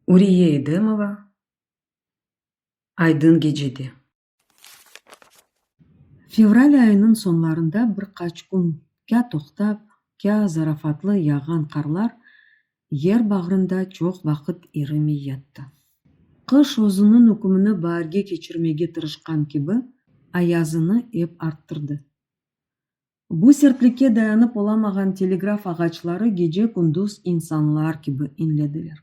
Uriye Edemova, Aydın gecede. Fevral ayınıñ soñlarında bir qaç kün kâ toqtap, kâ zarafatlı yağğan qarlar yer bağrında çoq vaqıt irimey yattı. Qış özüniñ ükümini baarge keçirmege tırışqan kibi, ayazını ep arttırdı. Bu sertlikke dayanıp olamağan telegraf ağaçları gece-kündüz insanlar kibi inlediler.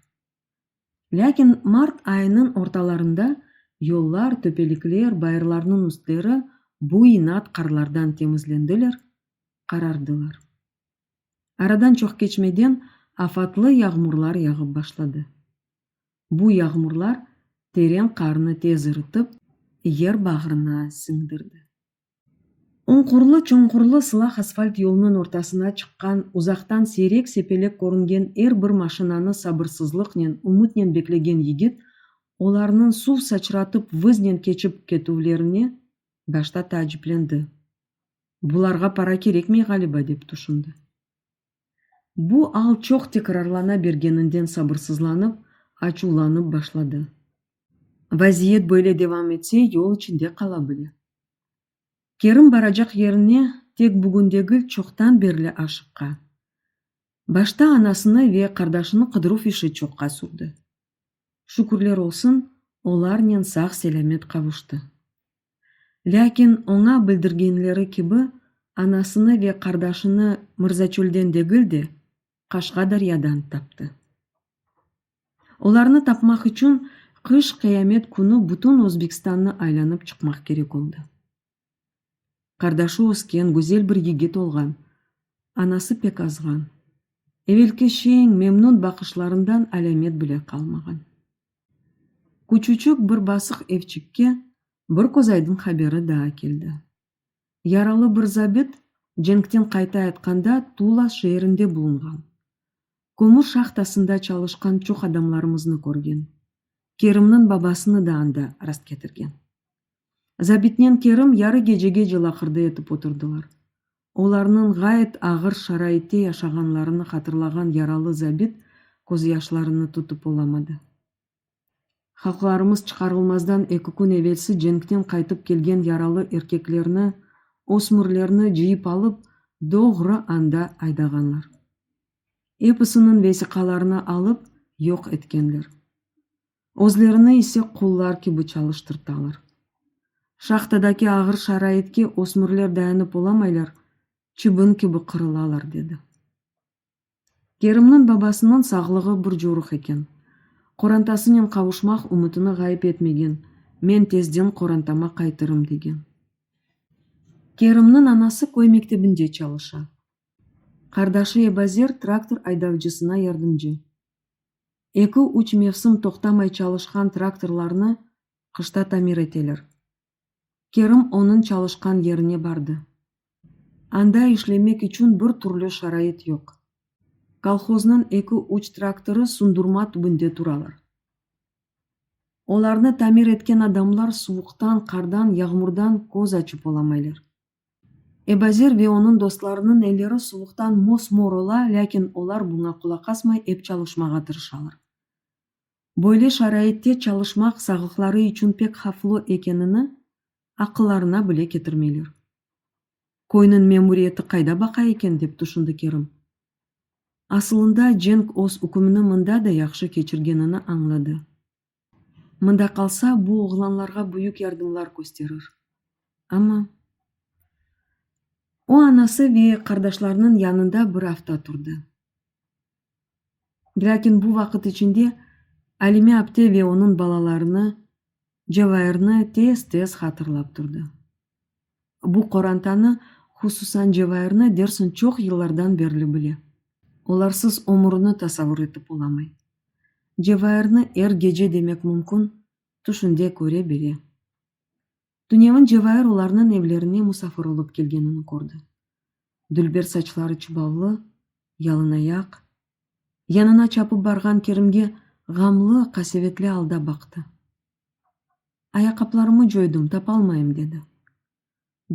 Lâkin mart ayınıñ ortalarında yollar, töpelikler, bayırlarnıñ üstleri bu inat qarlardan temizlendiler, qarardılar. Aradan çoq keçmeden afatlı yağmurlar yağıp başladı. Bu yağmurlar teren qarnı tez ırıtıp, yer bağrına siñdirdi. Unqurlı-çunqurlı sılaq asfalt yolunıñ ortasına çıqqan, uzaqtan seyrek-sepelek körüngen er bir maşinanı sabırsızlıqnen, ümütnen beklegen yigit, olarnıñ suv saçratıp vıznen keçip ketüvlerine başta taaciplendi. Bularğa para kerekmey ğaliba, dep tüşündi. Bu al çoq tekrarlana bergeninden sabırsızlanıp, açuvlanıp başladı. Vaziyet böyle devam etse, yol içinde qala bile. Kerim baracaq yerine tek bugün degil, çoqtan berli aşıqqa. Başta anasını ve qardaşını qıdıruv işi çoqqa sürdi. Şükürler olsun, olarnen sağ-selâmet qavuştı. Lâkin oña bildirgenleri kibi, anasını ve qardaşını Mırzaçölden degil de, Qaşqadaryadan taptı. Olarnı tapmaq içün qış qıyamet künü bütün Özbekistannı aylanıp çıqmaq kerek oldı. Qardaşı ösken, güzel bir yigit olğan, anası pek azğan, evelki şeñ, memnun baqışlarından alâmet bile qalmağan. Küçücik bir basıq evçikke bir közaydın haberi daa keldi. Yaralı bir zabit cenkten qayta yatqanda Tula şeerinde bulunğan. Kömür şahtasında çalışqan çoq adamlarımıznı körgen. Kerimniñ babasını da anda rastketirgen. Zabitnen Kerim yarı gecege cılaqırda etip oturdılar. Olarnıñ ğayet ağır şaraitte yaşağanlarını hatırlağan yaralı zabit közyaşlarını tutıp olamadı. Halqlarımız çıqarılmazdan eki kün evelsi cenkten qaytıp kelgen yaralı erkeklerni, ösmürlerni cıyıp alıp, doğru anda aydağanlar. Episiniñ vesiqalarını alıp, yoq etkenler. Özlerini ise qullar kibi çalıştırtalar. Şahtadaki ağır şaraitke ösmürler dayanıp olamaylar, çibin kibi qırılalar, dedi. Kerimniñ babasınıñ sağlığı bir coruq eken. Qorantasınen qavuşmaq ümütini ğayıp etmegen, men tezden qorantama qaytırım, degen. Kerimniñ anası köy mektebinde çalışa. Qardaşı Ebazer traktor aydavcısına yardımcı. Eki-üç mevsim toqtamay çalışqan traktorlarnı qışta tamir eteler. Kerim onıñ çalışqan yerine bardı. Anda işlemek içün bir türlü şarait yoq. Kolhoznıñ eki-üç traktorı sundurma tübünde turalar. Olarnı tamir etken adamlar suvuqtan, qardan, yağmurdan köz açıp olamaylar. Ebazer ve onıñ dostlarınıñ elleri suvuqtan mos-mor ola, lâkin olar buña qulaq asmay, ep çalışmağa tırışalar. Böyle şaraitte çalışmaq sağlıqları içün pek havflı ekenini aqıllarına bile ketirmeyler. Köyniñ memuriyeti qayda baqa eken? dep tüşündi Kerim. Asılında Cenk öz ükümini mında da yahşı keçirgenini añladı. Mında qalsa, bu oğlanlarğa büyük yardımlar kösterir. Amma o anası ve qardaşlarınıñ yanında bir afta turdı. Lâkin bu vaqıt içinde Alime apte ve onıñ balalarını, Cevairni tez-tez hatırlap turdı. Bu qorantanı, hususan Cevairni Derson çoq yıllardan berli bile. Olarsız ömürini tasavur etip olamay. Cevairni er gece demek mümkün, tüşünde köre bile. Tünevin Cevair olarnıñ evlerine musafir olıp kelgenini kördi. Dülber saçları çıbavlı, yalınayaq, Yanına çapıp barğan Kerimge ğamlı, qasevetli alda baqtı. Ayaqaplarımı coydım, tapalmayım, dedi.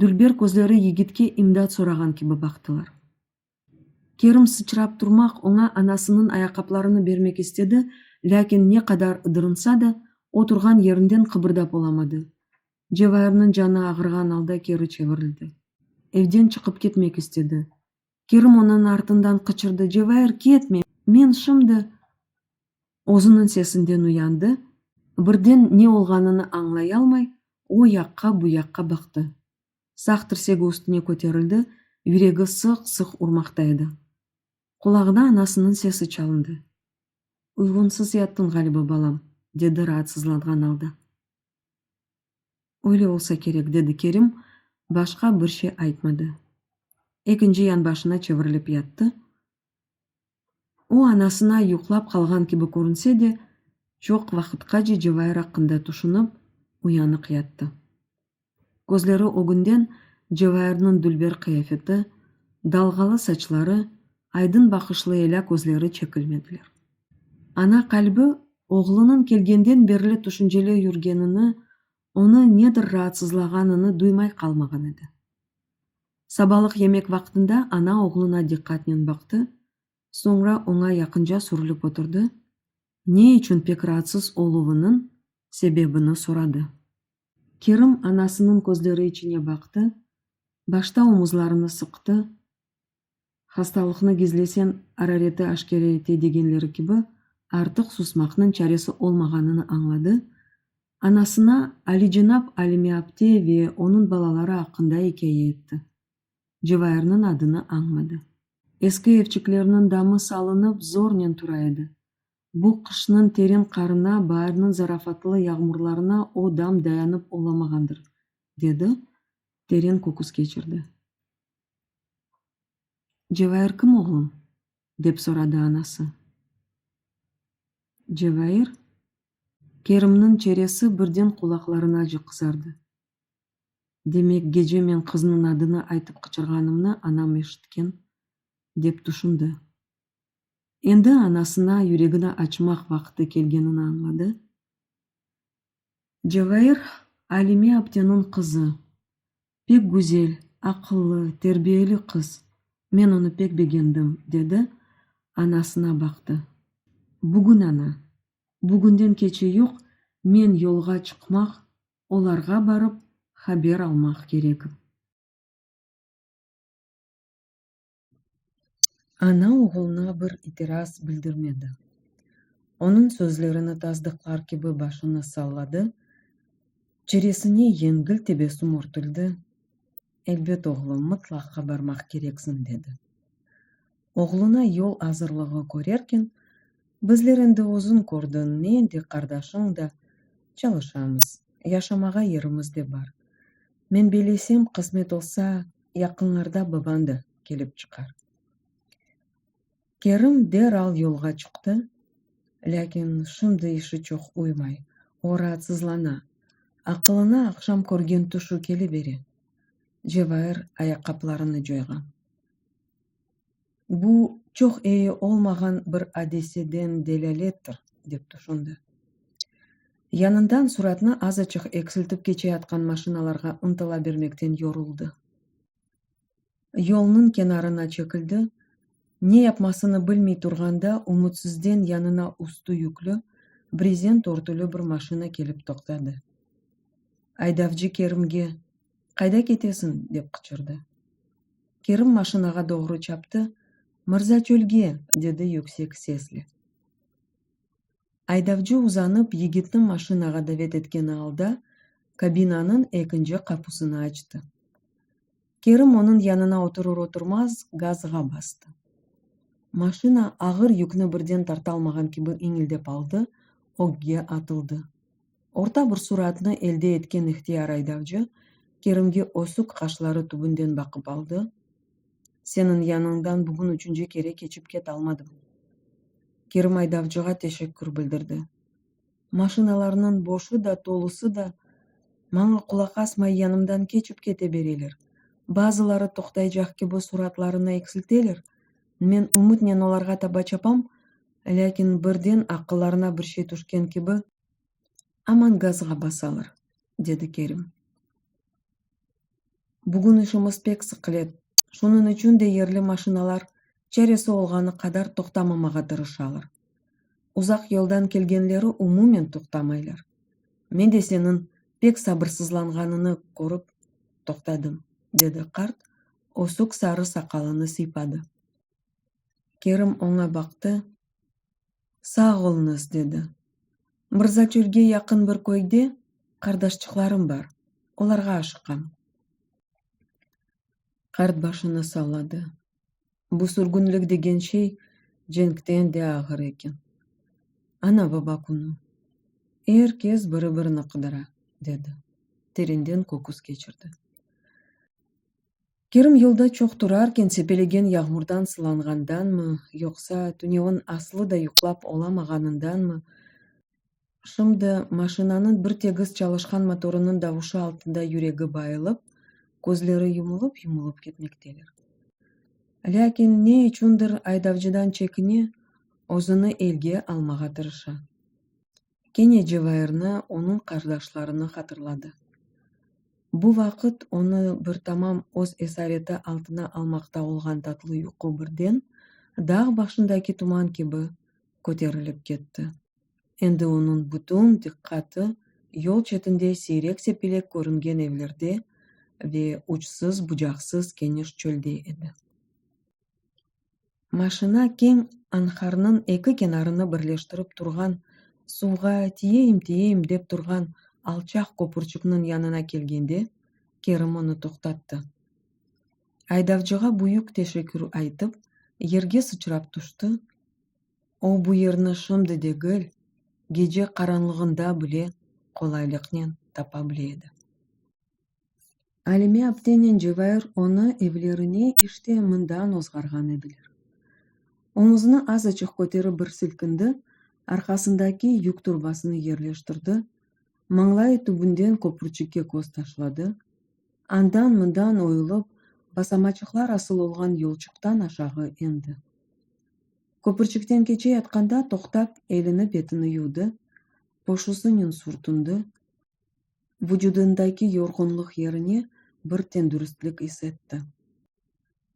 Dülber közleri yigitke imdat sorağan kibi baqtılar. Kerim sıçrap turmaq oña anasınıñ ayaqaplarını bermek istedi, lâkin ne qadar ıdırınsa da, o turğan yerinden qıbırdap olamadı. Cevairniñ canı ağırğan alda keri çevirildi. Evden çıqıp ketmek istedi. Kerim onıñ artından qıçırdı, Cevahir, ketme, men şimdi! Özüniñ sesinden uyandı, birden ne olğanını añlayalmay, o yaqqa, bu yaqqa baqtı. Sağ tirsegi üstüne köterildi, yüregi sıq-sıq urmaqta edi. Qulağına anasınıñ sesi çalındı. Uyğunsız yattıñ, ğaliba, balam, dedi raatsızlanğan alda. Öyle olsa kerek, dedi Kerim, başqa bir şey aytmadı. Ekinci yanbaşına çevirilip yattı. O, anasına yuqlap qalğan kibi körünse de, çoq vaqıtqace Cevayir aqqında tüşünip, uyanıq yattı. Közleri ögünden Cevayirniñ dülber qıyafeti, dalğalı saçları, aydın baqışlı elâ közleri çekilmediler. Ana qalbi oğlunıñ kelgenden berli tüşünceli yürgenini, onı nedir raatsızlağanını duymay qalmağan edi. Sabalıq yemek vaqtında ana oğluna diqqatnen baqtı, soñra oña yaqınca sürülip oturdı, ne içün pek raatsız oluvınıñ sebebini soradı. Kerim anasınıñ közleri içine baqtı, başta omuzlarını sıqtı, Hastalıqnı gizlesen, arareti aşkere ete degenleri kibi, artıq susmaqnıñ çaresi olmağanını añladı, anasına alicenap Alime apte ve onıñ balaları aqqında ikâye etti. Cevayırnıñ adını añmadı. Eski evçiklerniñ damı salınıp, zornen tura edi. Bu qışnıñ teren qarına, baarnıñ zarafatlı yağmurlarına o dam dayanıp olamağandır, dedi, teren köküs keçirdi. Cevair kim, oğlum? dep soradı anası. Cevair? Kerimniñ çeresi birden qulaqlarınacı qızardı. Demek, gece men qıznıñ adını aytıp qıçırğanımnı anam eşitken, dep tüşündi. Endi anasına yüregini açmaq vaqıtı kelgenini añladı. Cevair, Alime apteniñ qızı. Pek güzel, aqıllı, terbiyeli qız, men onı pek begendim, dedi, anasına baqtı. Bugün, ana, bugünden keçe yoq, men yolğa çıqmaq, olarğa barıp haber almaq kerek. Ana oğulına bir itiraz bildirmedi. Onıñ sözlerini tasdıqlar kibi başını salladı, çeresine yengil tebessüm örtüldi, Elbet, oğlum, mıtlaqqa barmaq kereksiñ, dedi. Oğluna yol azırlığı körerken, Bizler endi özüñ kördiñ, men de, qardaşıñ da çalışamız, yaşamağa yerimiz de bar. Men beylesem, qısmet olsa, yaqınlarda babañ da kelip çıqar. Kerim deral yolğa çıqtı, lâkin şimdi işi çoq uymay, o raatsızlana, aqılına aqşam körgen tüşü kelibere. Cevair ayaqqaplarını coyğan. bu çoq eyi olmağan bir adeseden delâlettir, dep tüşündi. Yanından suratnı azaçıq eksiltip keçeyatqan maşinalarğa ıntıla bermekten yoruldı. Yolnıñ kenarına çekildi, ne yapmasını bilmey turğanda ümütsizden yanına üstü yüklü, brezent örtülü bir maşina kelip toqtadı. Aydavcı Kerimge. qayda ketesiñ? dep qıçırdı. Kerim maşinağa doğru çaptı, Mırza çölge! dedi yüksek sesle. Aydavcı uzanıp yigitni maşinağa davet etkeni alda kabinanıñ ekinci qapusını açtı. Kerim onıñ yanına oturır-oturmaz gazğa bastı. Maşina ağır yükni birden tartalmağan kibi iñildep aldı, ögge atıldı. Orta bir suratnı elde etken ihtiyar aydavcı Kerimge ösük qaşları tübünden baqıp aldı, Seniñ yanıñdan bugün üçünci kere keçip ket almadım. Kerim aydavcığa teşekkür bildirdi. Maşinalarnıñ boşı da, tolusı da maña qulaq asmay yanımdan keçip kete bereler. Bazıları toqtaycaq kibi suratlarını eksilteler, men ümütnen olarğa taba çapam, lâkin birden aqıllarına bir şey tüşken kibi, Aman gazğa basalar, dedi Kerim. Bugün işimiz pek sıqlet, şunıñ içün de yerli maşinalar çaresi olğanı qadar toqtamamağa tırışalar. Uzaq yoldan kelgenleri umumen toqtamaylar. Men de seniñ pek sabırsızlanğanıñnı körip toqtadım, dedi qart, ösük sarı saqalını sıypadı. Kerim oña baqtı. Sağ oluñız, dedi. Mırzaçölge yaqın bir köyde qardaşçıqlarım bar, olarğa aşıqam. Qart başını salladı. Bu sürgünlik degen şey cenkten de ağır eken. Ana-baba künü. Er kes biri-birini qıdıra, dedi. Terinden köküs keçirdi. Kerim yolda çoq turarken sepelegen yağmurdan sılanğandanmı, yoqsa tünevin aslı da yuqlap olamağanındanmı, şimdi maşinanıñ bir tegiz çalışqan motorınıñ davuşı altında yüregi bayılıp, közleri yumulıp-yumulıp ketmekteler. Lâkin ne içündir aydavcıdan çekine, özüni elge almağa tırışa. kene Cevairni, onıñ qardaşlarını hatırladı. Bu vaqıt onı bir tamam öz esareti altına almaqta olğan tatlı yuqu birden, dağ başındaki tuman kibi, köterilip ketti. Endi onıñ bütün diqqatı yol çetinde seyrek-sepelek körüngen evlerde ve uçsız-bucaqsız keniş çölde edi. Maşina keñ anharnıñ eki kenarını birleştirip turğan suvğa tiyeyim-tiyeyim dep turğan alçaq köpürçikniñ yanına kelgende, Kerim onı toqtattı. Aydavcığa büyük teşekkür aytıp, yerge sıçrap tüşti, o bu yerni şimdi degil, gece qaranlığında bile qolaylıqnen tapa bile edi. Alime aptenen Cevahir onı evlerine işte mından ozğarğan ediler. Omuzını azaçıq köterip bir silkindi, arqasındaki yük torbasını yerleştirdi, mañlayı tübünden köprüçikke köz taşladı, andan-mından oyulıp, basamaçıqlar asıl olğan yolçuqtan aşağı endi. Köprüçikten keçe yatqanda toqtap, elini-betini yuvdı, poşusınen sürtündi, vucudındaki yorğunlıq yerine bir tendüristlik is etti.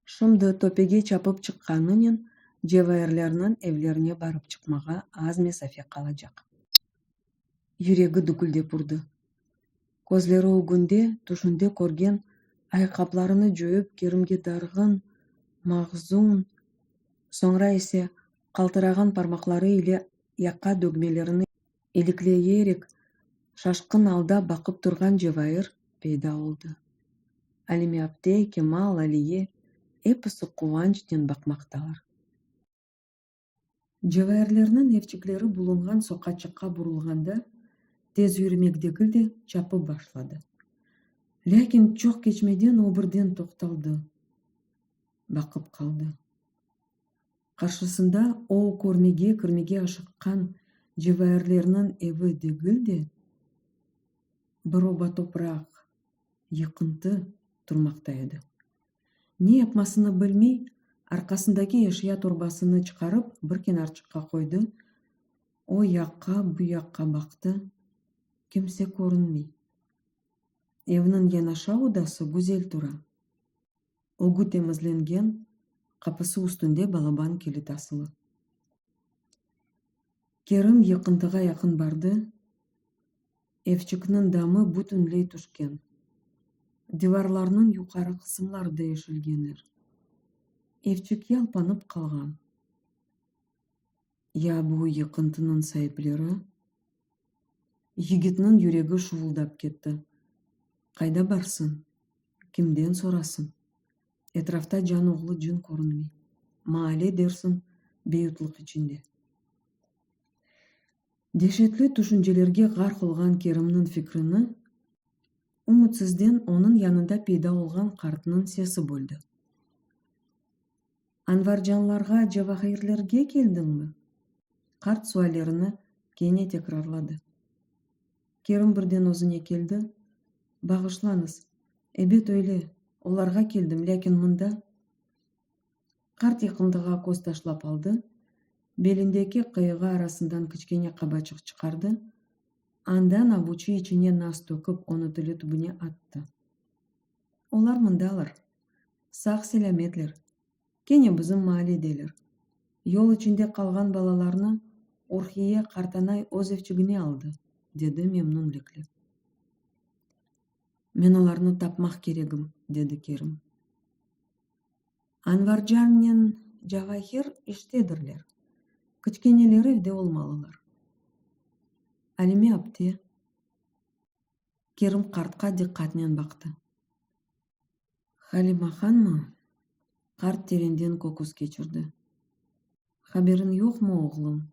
Şimdi töpege çapıp çıqqanınen Cevayirlerniñ evlerine barıp çıqmağa az mesafe qalacaq. Yüregi düküldep urdı. Közleri ögünde, tüşünde körgen ayqaplarını cöyüp Kerimge darğın, mahzun, soñra ise qaltırağan parmaqları ile yaqa dögmelerini ilikleyerek şaşqın alda baqıp turğan Cevahir peyda oldı. Alimiyapte, Kemal, Aliye, episi quvançnen baqmaqtalar. Cevahirlerniñ evçikleri bulunğan soqaçıqqa burulğanda, tez yürümek degil de, çapıp başladı. Lâkin çoq keçmeden o birden toqtaldı, baqıp qaldı. Qarşısında o körmege kirmege aşıqqan cevairlerniñ evi degil de, bir oba topraq, yıqıntı, turmaqta edi. Ne yapmasını bilmey, arqasındaki eşya torbasını çıqarıp, bir kenarçıqqa qoydı, o yaqqa, bu yaqqa baqtı, kimse körünmey. Evniñ yanaşa odası güzel tura. ögü temizlengen, qapısı üstünde balaban kilit asılı. Kerim yıqıntığa yaqın bardı, evçikniñ damı bütünley tüşken, divarlarnıñ yuqarı qısımları deyişilgenler. Evçik yalpanıp qalğan. Ya bu yıqıntınıñ saipleri? Yigitniñ yüregi şuvuldap ketti. Qayda barsıñ? Kimden sorasıñ? Etrafta can oğlu cın körünmey. Maale dersiñ, beyutlıq içinde. Deşetli tüşüncelerge ğarq olğan Kerimniñ fikrini ümütsizden onıñ yanında peyda olğan qartnıñ sesi böldi. Anvarjanlarğa, Cevahirlerge keldiñmi? Qart suallerini kene tekrarladı. Kerim birden özüne keldi, Bağışlañız, ebet öyle, olarğa keldim, lâkin mında? Qart yıqındığa köz taşlap aldı, belindeki qıyığı arasından kiçkene qabaçıq çıqardı, anda nabuçi içine nas töküp, onı tili tübüne attı. Olar mındalar. Sağ-selâmetler, kene bizim mahalledeler. Yol içinde qalğan balalarnı Urhiye qartanay öz evçigine aldı, dedi memnunlikle. Men olarnı tapmaq keregim, dedi Kerim. Anvarcannen Cavahir iştedirler, kiçkeneleri evde olmalılar. Alime apte? Kerim qartqa diqqatnen baqtı. Halima hanmı? Qart terenden köküs keçirdi. Haberiñ yoqmı, oğlum?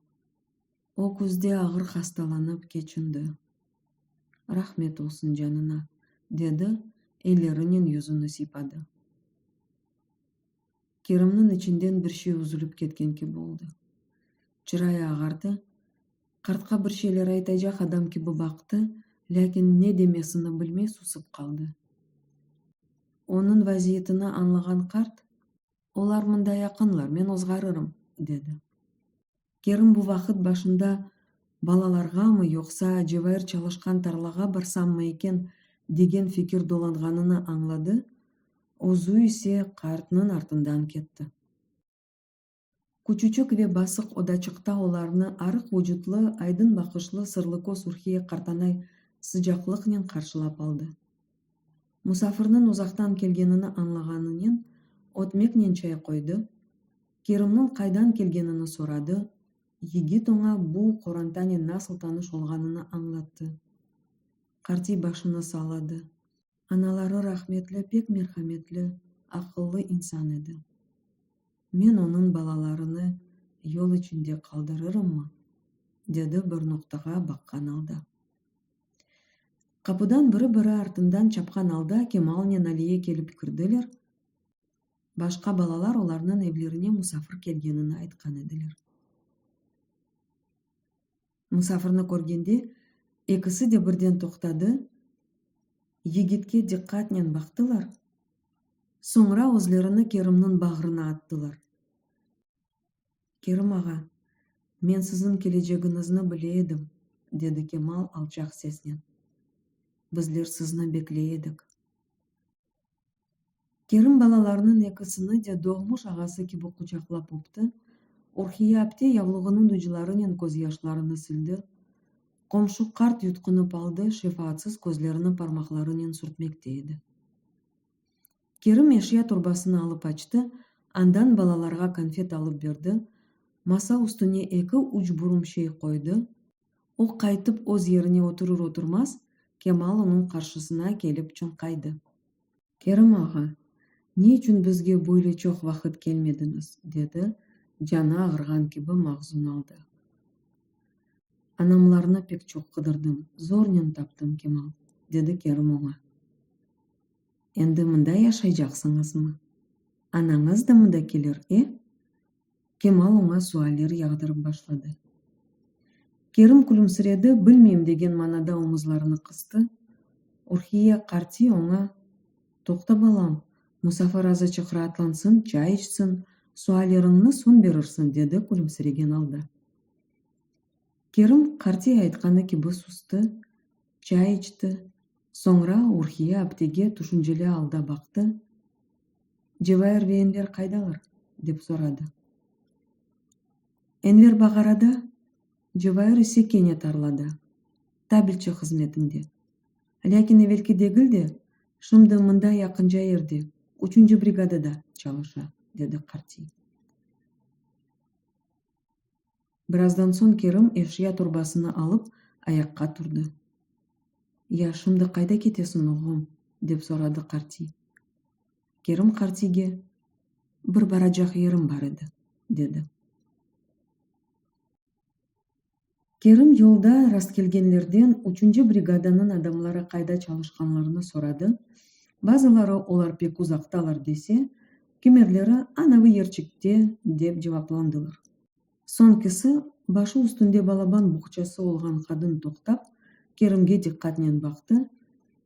O küzde ağır hastalanıp keçindi. Rahmet olsun canına, dedi, ellerinen yüzüni sıypadı. Kerimniñ içinden bir şey üzülip ketken kibi oldı. Çırayı ağardı. Qartqa bir şeyler aytacaq adam kibi baqtı, lâkin ne demesini bilmey susıp qaldı. Onıñ vaziyetini añlağan qart, Olar mında yaqınlar, men ozğarırım, dedi. Kerim bu vaqıt başında balalarğamı, yoqsa cevair çalışqan tarlağa barsammı eken, degen fikir dolanğanını añladı, özü ise qartnıñ artından ketti. Küçücik ve basıq odaçıqta olarnı arıq vucutlı, aydın baqışlı sırlıköz Ürhiye qartanay sıcaqlıqnen qarşılap aldı. Musafirniñ uzaqtan kelgenini añlağanınen ötmeknen çay qoydı, Kerimniñ qaydan kelgenini soradı, yigit oña bu qorantanen nasıl tanış olğanını añlattı. Qartiy başını salladı. Anaları rahmetli pek merhametli, aqıllı insan edi. Men onıñ balalarını yol içinde qaldırırımmı? dedi bir noqtağa baqqan alda. Qapıdan biri-biri artından çapqan alda Kemalnen Aliye kelip kirdiler, Başqa balalar olarnıñ evlerine musafir kelgenini aytqan ediler. Musafirni körgende, ekisi de birden toqtadı, yigitke diqqatnen baqtılar, soñra özlerini Kerimniñ bağrına attılar. Kerim ağa, men siziñ kelecegiñizni bile edim, dedi Kemal alçaq sesnen. Bizler sizni bekley edik. Kerim balalarnıñ ekisini de doğmuş ağası kibi quçaqlap öpti, Urhiye apte yavluğınıñ uclarınen közyaşlarını sildi. Qomşu qart yutqunıp aldı, şefaatsız közlerini parmaqlarınen sürtmekte edi. Kerim eşya torbasını alıp açtı, andan balalarğa konfet alıp berdi, masa üstüne eki-üç burum şey qoydı, O qaytıp öz yerine oturır-oturmaz, Kemal onıñ qarşısına kelip çoñqaydı. Kerim ağa, ne içün bizge böyle çoq vaqıt kelmediñiz? dedi, canı ağırğan kibi mahzun alda. Anamlarnı pek çoq qıdırdım, zornen taptım, Kemal, dedi Kerim oña. Endi mında yaşaycaqsıñızmı? Anañız da mında kelir, e? Kemal oña sualler yağdırıp başladı. Kerim külümsiredi, bilmeyim degen manada omuzlarını qıstı. Urhiye qarti oña, Toqta, balam, musafir azıçıq raatlansın, çay içsin, sualleriñni soñ berirsin, dedi külümsiregen alda. Kerim qarti aytqanı kibi sustı, çay içti. Soñra Urhiye aptege tüşünceli alda baqtı, Cevahir ve Enver qaydalar? dep soradı. Enver bağarada, Cevahir ise kene tarlada, tabelçi hızmetinde. Lâkin evelki degil de, şimdi mında yaqınca yerde, üçünci brigadada çalışa, dedi qartiy. Birazdan soñ Kerim eşya torbasını alıp ayaqqa turdı. Ya, şimdi qayda ketesiñ, oğlum? dep soradı qartiy. Kerim qartiyge, Bir baracaq yerim bar edi, dedi. Kerim yolda rastkelgenlerden üçünci brigadanıñ adamları qayda çalışqanlarını soradı, bazıları olar pek uzaqtalar dese, kimerleri, Anavi yerçikte, dep cevaplandılar. Soñkisi, başı üstünde balaban buhçası olğan qadın toqtap, Kerimge diqqatnen baqtı,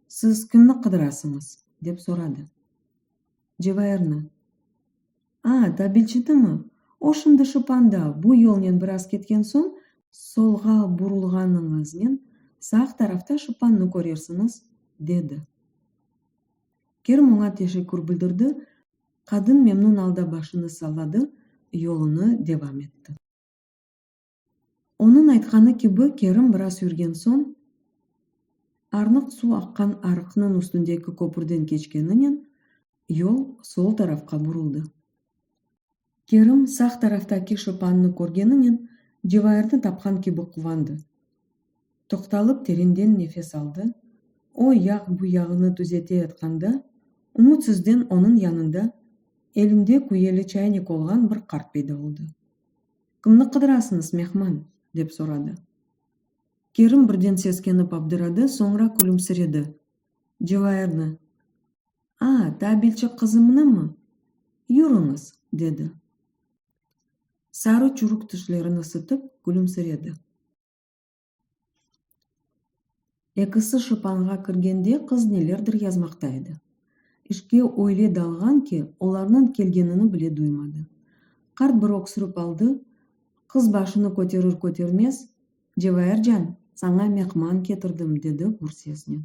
Siz kimni qıdırasıñız? dep soradı. Cevairni. A, tabilçinimi? O şimdi Şıpanda, bu yolnen biraz ketken soñ, solğa burulğanıñıznen sağ tarafta Şıpannı körersiñiz, dedi. Kerim oña teşekkür bildirdi, Qadın memnun alda başını salladı, yolunı devam etti. Onıñ aytqanı kibi, Kerim biraz yürgen soñ, arnıq suv aqqan arıqnıñ üstündeki köpürden keçkeninen, yol sol tarafqa buruldı. Kerim sağ taraftaki şopannı körgeninen Cevairni tapqan kibi quvandı. Toqtalıp terenden nefes aldı, o yağ bu yağını tüzete yatqanda, ümütsizden onıñ yanında elinde küyeli çaynik olğan bir qart peyda oldı. Kimni qıdırasıñız, mehman? dep soradı. Kerim birden seskenip abdıradı, soñra külümsiredi. Cevairni. A, tabilçi qızımnımı? Yürüñiz! dedi. Sarı çürük tişlerini sıtıp, külümsiredi. Ekisi şıpanğa kirgende qız nelerdir yazmaqta edi. İşke öyle dalğan ki, olarnıñ kelgenini bile duymadı. Qart bir öksürip aldı, qız başını köterir-kötermez, Cevaircan, saña mehman ketirdim, dedi gür sesnen.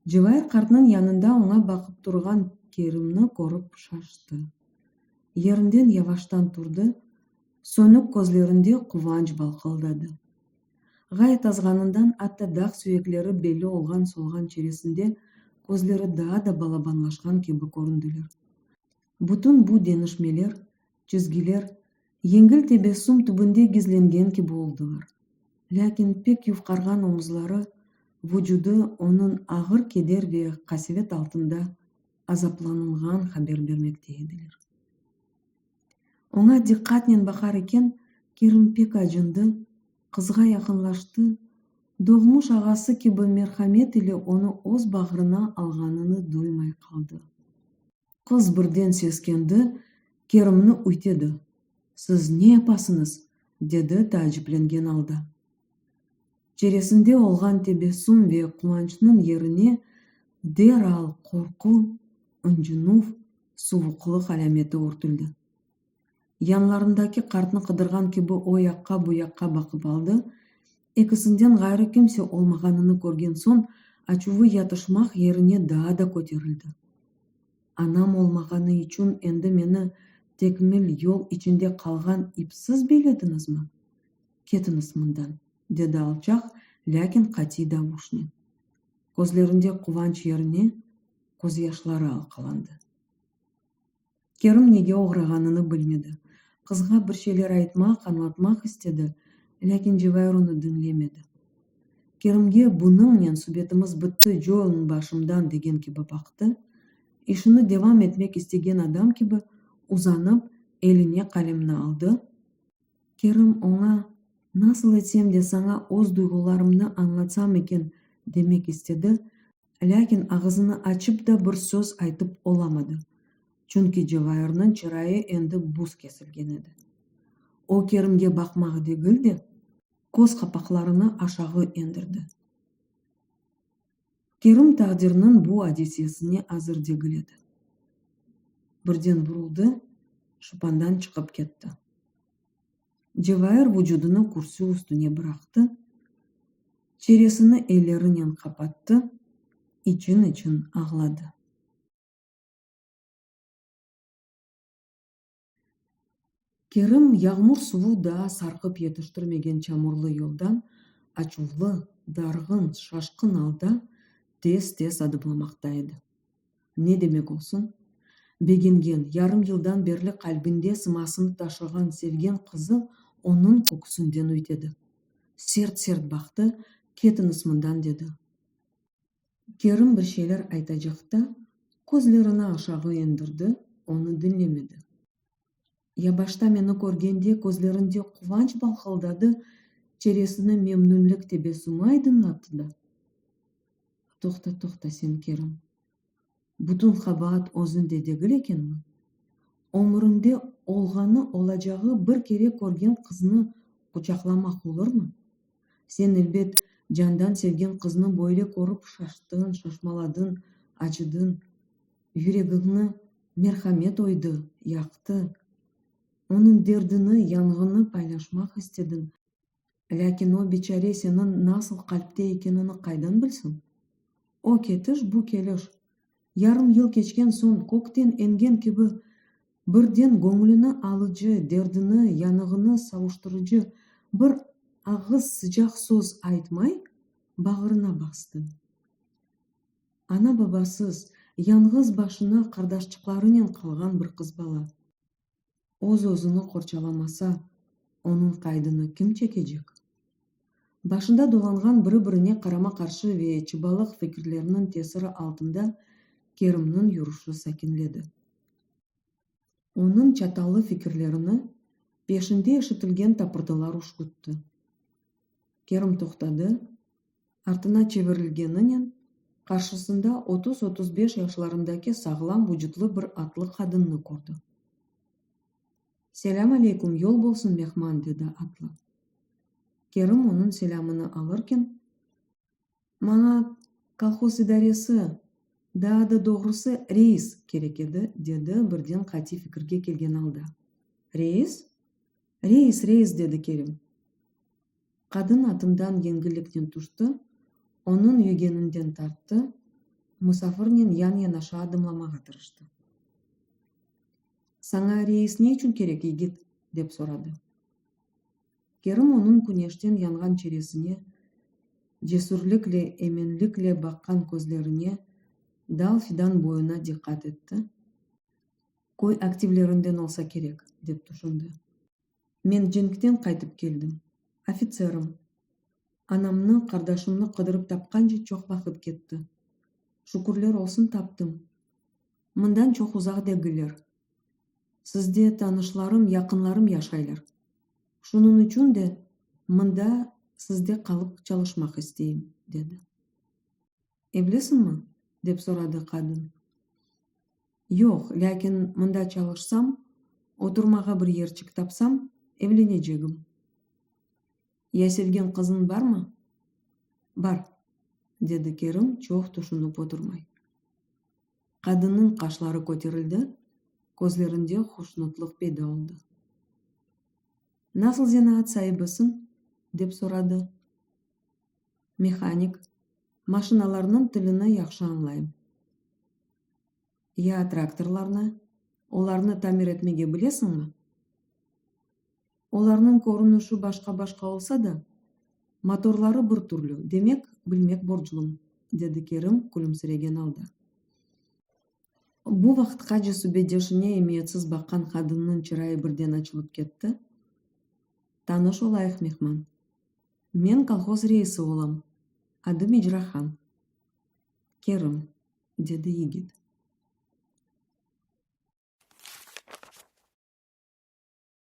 Cevair qartnıñ yanında oña baqıp turğan Kerimni körip şaştı. Yerinden yavaştan turdı, sönük közlerinde quvanç balqıldadı. Ğayet azğanından atta dağ süyekleri belli olğan solğan çeresinde közleri daa da balabanlaşqan kibi köründiler. Bütün bu denişmeler çizgiler yengil tebessüm tübünde gizlengen kibi oldılar. Lâkin pek yufqarğan omuzları, vucudı onıñ ağır keder ve qasevet altında azaplanılğan haber bermekte ediler. Oña diqqatnen baqar eken, Kerim pek acındı, qızğa yaqınlaştı, doğmuş ağası kibi merhamet ile onı öz bağrına alğanını duymay qaldı. Qız birden seskendi, Kerimni üytedi. Siz ne yapasıñız? dedi taaciplengen alda. Çeresinde olğan tebessüm ve quvançnıñ yerine deral qorqu, ıncınuv, suvuqlıq alâmeti örtüldi. Yanlarındaki qartnı qıdırğan kibi o yaqqa, bu yaqqa baqıp aldı. Ekisinden ğayrı kimse olmağanını körgen soñ, açuvı yatışmaq yerine daa da köterildi. Anam olmağanı içün endi meni tekmil yol içinde qalğan ipsiz beylediñizmi? Ketiñiz mından! dedi alçaq, lâkin qatiy davuşnen. Közlerinde quvanç yerine közyaşları alqalandı. Kerim nege oğrağanını bilmedi. Qızğa bir şeyler aytmaq, añlatmaq istedi, lâkin Cevahir onı diñlemedi. Kerimge bunıñnen subetimiz bitti, coyluñ başımdan degen kibi baqtı, işini devam etmek istegen adam kibi uzanıp, eline qalemni aldı. Kerim oña, Nasıl etsem de saña öz duyğularımnı añlatsam eken, demek istedi, lâkin ağızını açıp da bir söz aytıp olamadı, çünki Cevairniñ çırayı endi buz kesilgen edi. O Kerimge baqmaq degil de, köz qapaqlarını aşağı endirdi. Kerim taqdirniñ bu adisesine azır degil edi. Birden vuruldı, şıpandan çıqıp ketti. Cevair vucudını kürsü üstüne bıraqtı, çeresini ellerinen qapattı, için-için ağladı. Kerim yağmur suvu daa sarqıp yetiştirmegen çamurlı yoldan açuvlı, darğın, şaşqın alda tez-tez adımlamaqta edi. Ne demek olsun? Begengen, yarım yıldan berli qalbinde sımasını taşığan sevgen qızı onıñ köküsinden üytedi. Sert-sert baqtı, Ketiñiz mından, dedi. Kerim bir şeyler aytacaq da, közlerini aşağı endirdi, onı diñlemedi. Ya başta meni körgende közlerinde quvanç balqıldadı, çeresini memnünlik tebessümi aydınlattı da. Toqta, toqta sen, Kerim. Bütün qabaat özünde degil ekenmi? Ömüründe olğanı, olacağı bir kere körgen qıznı quçaqlamaq olurmı? Sen, elbet, candan sevgen qıznı böyle körip şaştıñ, şaşmaladıñ, acıdıñ. yüregiñni merhamet oydı yaqtı, onıñ derdini, yanğını paylaşmaq istediñ, lâkin o biçare seniñ nasıl qalpte ekenini qaydan bilsin? O ketiş, bu keliş, yarım yıl keçken soñ kökten eñgen kibi, birden göñlüni alıcı, derdini, yanığını savuştırıcı bir ağız sıcaq söz aytmay, bağrına bastı. Ana-babasız, yañğız başına qardaşçıqlarınen qalğan bir qız bala, öz-özüni qorçalamasa, onıñ qaydını kim çekecek? Başında dolanğan biri-birine qarama-qarşı ve çıbalıq fikirlerniñ tesiri altında Kerimniñ yurışı sakinledi. Onıñ çatallı fikirlerini peşinde eşitilgen tapırdılar üşkütti. Kerim toqtadı, artına çevirilgeninen qarşısında otuz-otuz beş yaşlarındaki sağlam vucutlı bir atlı qadınnı kördi. Selâm aleyküm, yol bolsun, mehman, dedi atlı. Kerim onıñ selâmını alırken. Maña kolhoz idaresi, daa da doğrusı, reis kerek edi, dedi birden qatiy fikirge kelgen alda. Reis? Reis, reis, dedi Kerim. Qadın atından yengilliknen tüşti, onıñ yügeninden tarttı, musafirnen yan-yanaşa adımlamağa tırıştı. Saña reis ne içün kerek, yigit? dep soradı. Kerim onıñ küneşten yanğan çeresine, cesürlikle, eminlikle baqqan közlerine, dal fidan boyuna diqqat etti. Köy aktivlerinden olsa kerek, dep tüşündi. Men cenkten qaytıp keldim. Ofitserim. Anamnı, qardaşımnı qıdırıp tapqance çoq vaqıt ketti. Şükürler olsun, taptım. Mından çoq uzaq degiller. Sizde tanışlarım, yaqınlarım yaşaylar. Şunıñ içün de mında sizde qalıp çalışmaq isteyim, dedi. Evlisiñmi? dep soradı qadın. Yoq, lâkin mında çalışsam, oturmağa bir yerçik tapsam, evlenecegim. Ya sevgen qızıñ barmı? Bar, dedi Kerim çoq tüşünip oturmay. Qadınnıñ qaşları köterildi, közlerinde hoşnutlıq peyda oldı. Nasıl zenaat saibisiñ? dep soradı. Mehanik, maşinalarnıñ tilini yahşı añlayım. Ya traktorlarnı, olarnı tamir etmege bilesiñmi? Olarnıñ körünişi başqa-başqa olsa da, motorları bir türlü, demek, bilmek borclum, dedi Kerim külümsiregen alda. Bu vaqıtqace subetdeşine emiyetsiz baqqan qadınnıñ çırayı birden açılıp ketti, Tanış olayıq, mehman. Men kolhoz reisi olam, adım İcrahan. Kerim, dedi yigit.